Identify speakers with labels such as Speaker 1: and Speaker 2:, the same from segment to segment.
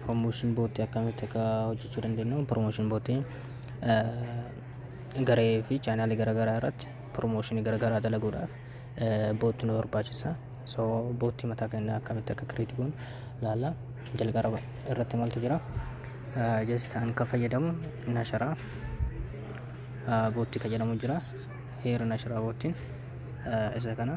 Speaker 1: Promotion bootti akkamitti akka hojjechuu dandeenyu promotion bootti garee fi chaanaalii garaagaraa irratti promotion garaagaraa dalaguudhaaf bootti nu barbaachisa. So bootti mataa keenya akkamitti akka create goonu ilaalla. Jalqaba irratti maaltu jira? Just an kan fayyadamu nasharaa bootti kan jedhamu jira. Heera nasharaa boottiin isa kana.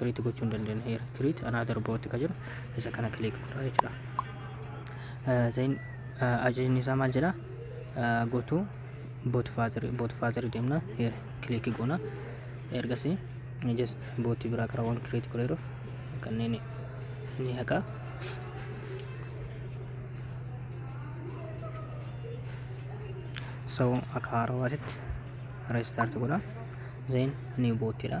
Speaker 1: create gochuu hin dandeenye here create another bot ka jedhu isa kana click godha jechuudha Eh, zain eh, ajajni isaa maal jedha Eh, go to bot father bot father deemna here click goona ergasii just bot biraa karaa waan create godheeruuf kanneen ni haqa so akka haarawaatitti restart godha zain new bot jedha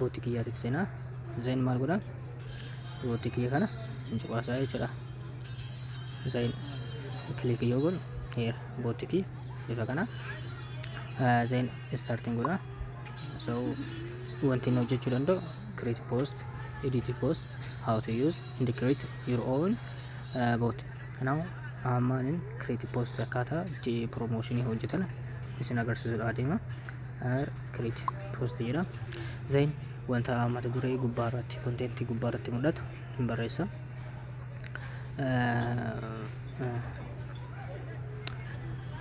Speaker 1: bootti kiyyaatitti seenaa zayin maal godha bootti kiyya kana hin cuqaasaa jechuudha zayin kilik yoo godhu heera bootti kiyya bifa kana zayin istaartiin godha so wanti inni hojjechuu danda'u create post edit post how to use and create your own uh, bot kanaaf ammaan create post akkaataa itti promotion hojjetan isin agarsiisuudha adeema Hire create post jedha. Zain wanta mata duree gubbaa irratti kontentii gubbaa irratti mul'atu hin barreessa.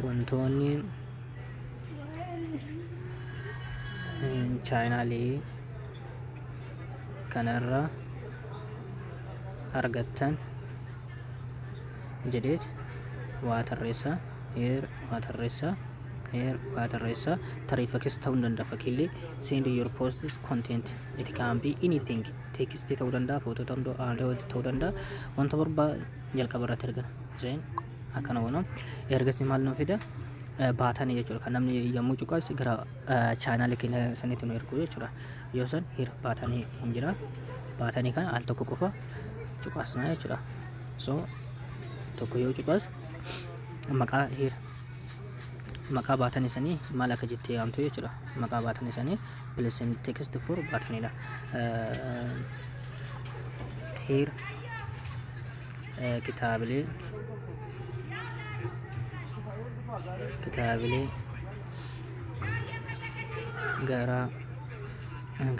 Speaker 1: Wantoonni chaayinaalii kanarra argattan jedheet waa tarreessa. Heer waa tarreessaa Heer waa tarreessaa tarii fakkees ta'uu ni danda'a fakkiillee send your posts content it can be anything text ta'uu danda'a footoo ta'uu danda'a audio ta'uu danda'a wanta barbaa jalqaba irratti ergina seen akkana goona ergasii maal nu fida baatanii jechuudha kan namni yommuu cuqas gara chaanaalii keenya sanitti nu ergu jechuudha yoo san hir baatanii hin jira baatanii kana al tokko qofa cuqasnaa jechuudha so tokko yoo cuqas maqaa hiir maqaa baatan isanii maal akka jettee yaamtu jechuudha maqaa baatan isanii pilesin tekst for baatanidha hiir kitaabilee kitaabilee garaa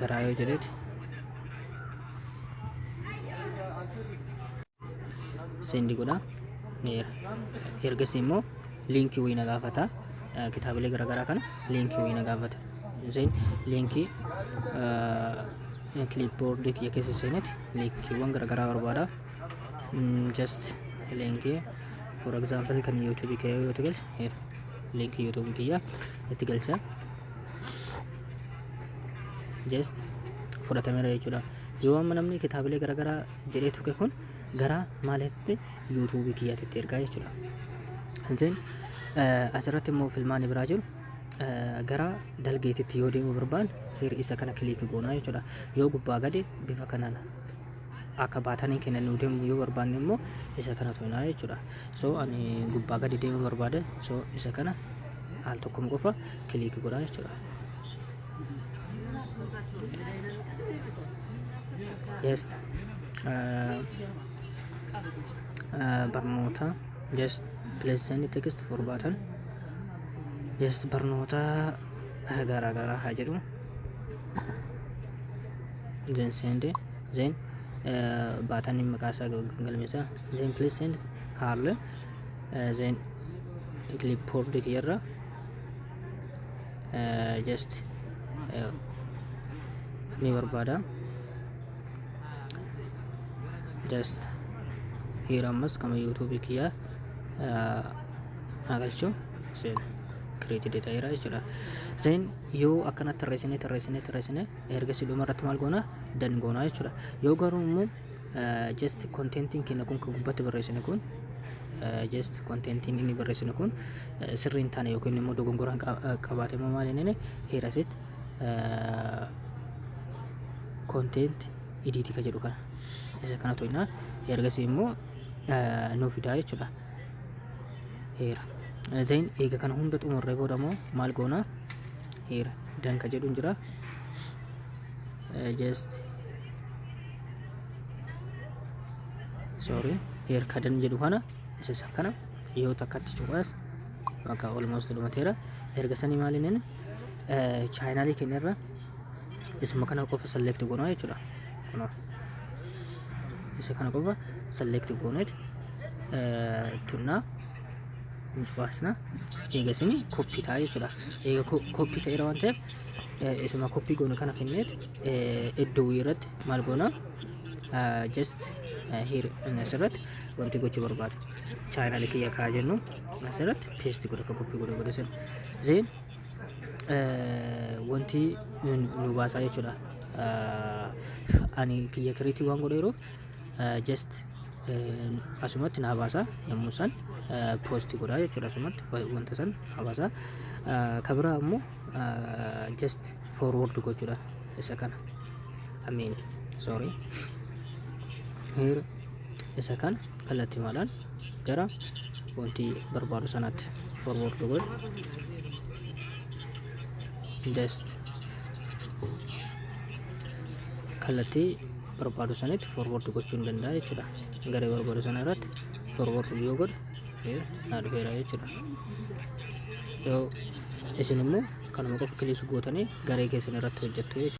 Speaker 1: garaa yoo jedheeti sendi godha ergasii immoo liinkii wayii na gaafata kitaabilee garaagaraa kana liinkii wayii na gaafata isheen liinkii kiliipboordii kiyya keessa seenetti liinkiiwwan garaagaraa barbaada just liinkii for example kan yuutuubii kiyya yoo ta'e galcha liinkii yuutuubii kiyya itti galcha just fudhatameera jechuudha yoo amma namni kitaabilee garaagaraa jedhee tuqe kun gara maalitti yuutuubii kiyyatitti ergaa jechuudha. Hanzeen asirratti immoo filmaanni biraa jiru gara dalgeetitti yoo deemu barbaan hir isa kana kiliiki goonaa jechuudha. Yoo gubbaa gadi bifa kanaan akka baataniin keenya nuu deemu yoo barbaanne immoo isa kana tuqnaa jechuudha. So ani gubbaa gadi deemu barbaade so isa kana al tokkum qofa kiliiki godhaa jechuudha. just uh, uh, barnoota just please send the text for button just barnoota uh, garaa garaa haa jedhu then send it then uh, button in maqaa isaa galmeessa then please send haarle uh, then clipboard kiyarra just ni barbaada just here ammas kama yuutuubii kiyyaa haa galchu seen create data jira jechuudha then yoo akkanatti tarreessinee tarreessinee tarreessinee ergasii dhuma irratti maal goona dan goona jechuudha yoo garuu immoo just contentiin keenya kun kan gubbatti barreessine kun just contentiin inni barreessine kun sirrii hin taane yookiin immoo dogongoraa qabaate immoo maal inni heerasit content idiitii ka jedhu kana isa kana to'inaa ergasii immoo nuu fidaa jechuudha heera zain eega kana hunda xumurree booda immoo maal goonaa heera danka jedhuun jira just sorry here kadan jedhu kana isa isa kana yoo takkatti cuqaas bakka almost dhumateera erga sanii maaliin chaayinaalii keenya irra isuma kana qofa select goonaa jechuudha kunoo isa kana qofa select gooneet tunnaa nuuf baasna eega isin koppii ta'a jechuudha eega koppii ta'eera waan ta'eef eh, isuma koppii goone kana finneet eh, iddoo wii irratti maal goona eh, just eh, here inni asirratti wanti gochuu barbaadu chaayinaali kiyya kaa jennu asirratti peesti godha akka koppii godha godha sana zeen eh, wanti nu nu baasaa jechuudha Eh, ani kiyya kiriitii waan godheeruuf eh, just eh, asumatti naa baasaa yommuu san eh, poosti godhaa jechuudha asumatti wa- wanta san naa baasaa Eh, ka biraa immoo just forward gochuudha isa kana I mean sorry here isa kana kallattimaadhaan gara wanti barbaadu sanatti forward godhu just kallattii barbaadu sanatti forward gochuu ni danda'a jechuudha garee barbaadu sana irratti forward yoo godhu Ee, naa dhufeera jechuudha. Yoo isin immoo kanuma qofa kilik gootanii garee keessan irratti hojjettu jechuudha.